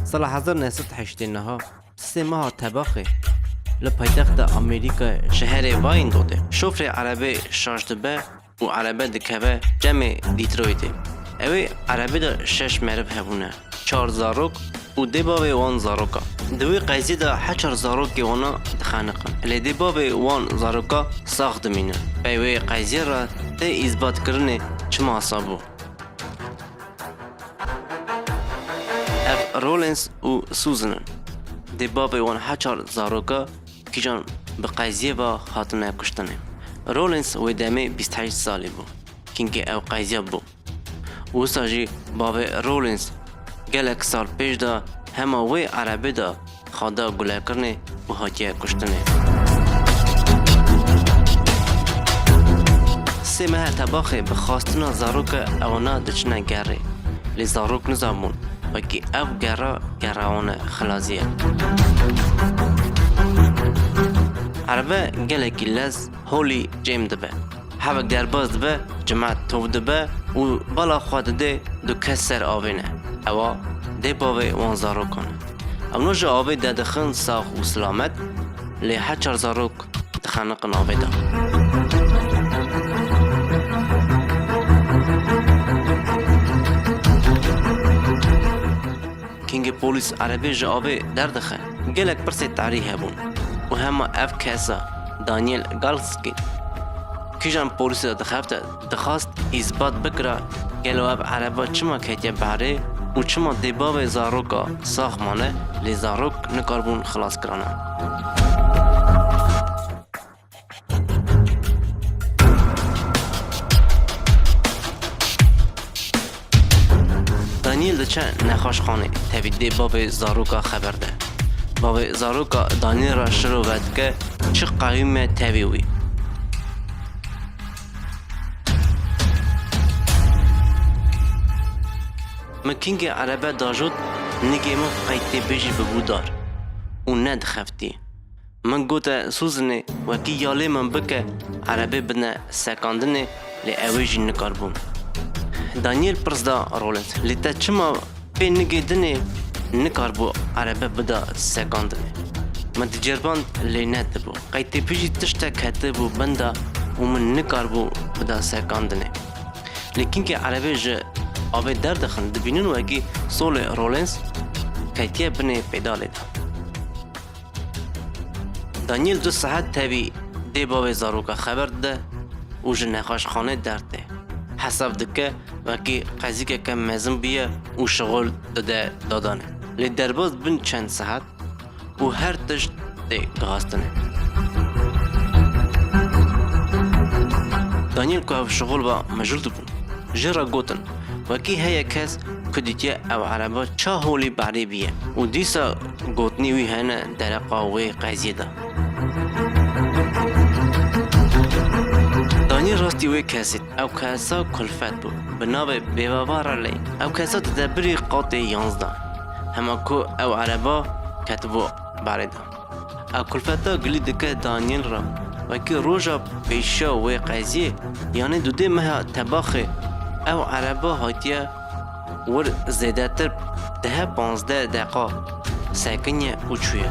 Sala hezar neh sed heştê niha sisê meha tebaxê li paytexta Amerîkayê şeherê Wyandottê şofrê erebeyê şaş dibe û erebe dikeve cemê Dîtroytê. Ewê erebê de şeş meriv hebûne, çar zarok û dê bavê wan zaroka. Di wê qeyzê de heçar zarokê wana dixeniqin. Lê dê bavê wan zaroka sax dimîne. Pey wê qeyzê re tê îzbatkirinê çima sa bû. Ev Rollins û Susan in. Dê bavê wan heçar zaroka. Kîjan bi qeziyê ve hatine kuştinê. Rawlings wê demê bîst û heşt salî bû, çimkî ew qeziya bû. Wisa jî bavê Rawlings gelek sal pêş de hema wê erebê de xwe da gulekirinê û hatiye kuştinê. Sê mehe tebaxê bi xastina zaroke ew na diçine gerê. Lê zarok nizabûn wekî ev gera gera wan e. xilazî ye. Erebe gelekî lez holî cêm dibe. Hevek derbas dibe, cimet tor dibe û bala xwe dide du kes ser avê ne. Ewa dê bavê wan zarokan e. Ew no ji avê dedixin sax û silamet lê her çar zarok dixeniqin avê de. Kengê polîs erebê ji avê derdixe. Gelek pirsê tarî hebûn û hema ev kesa Daniel Galski kijan polîsê de dixebite dixwast îsbat bikira gelo ev ereba çima ketiye berê û çima dê bavê zaroka sax mane lê zarok nikaribûn xilaskirana. Daniel di çe nexweşxanê tevî dê bavê zaroka xeber de. Bavê zaroka Daniel ra şiro ve dike çi qewîme tevî wî. Min kingê erebe dajot nigê min qey tê bijî bibû dar û nedixeftî. Min gote Suzinê wekî yalê min bike erebê bidne sekandinê lê ewê jî nikaribûm. Daniel pirs da Roland lê te çima pê nigê dinê nikaribû erebe bida sekandinê. Min diceriband lê nedibû. Qey têpijî tiştek hetibû binda û min nikaribû bida sekandinê. Lê kinkê erebê ji avê derdixin dibînin wekî solê Rollins ketiye binê pêdalê de. Daniel du saet tevî dê bavê zaroka xeber dide û ji nexweşxanê dertê. Hesab dike wekî qezîkeke mezin bûye û şixul dide dadanê. Lê derbas bin çend saet û her tişt tê gihastinê. Daniel ku ev şixul ba mijûl dibû. Jin re gotin, Wekî heye kes ku dîtiye ew ereba ça holî berê bîye û dîsa gotinê wî hene dereqa wê qeziyê de. Danî rastî wê kesê, ew kesa kulfet bû, bi navê Bêbava Reley. Ew kesa di debirê qatê yanzdeh, hema ku ew ereba ketibû berê de. A kulfeta gilî dike Danyêl re. Wekî roja pêşiya wê qeziyê yanî du dê meha tebaxê ew erebe hatiye wir zêdetir dehe panzdeh deqa sekiniye û çûye.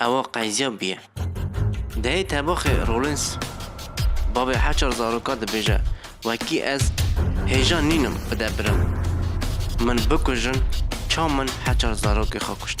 Ewa qeyziya bûye. Dehê tebaxê Rollins bavê heçar zaroka dibêje, Wekî ez hêja nînim bide birim. Min bikujin ça min heçar zarokê xwe kuşt.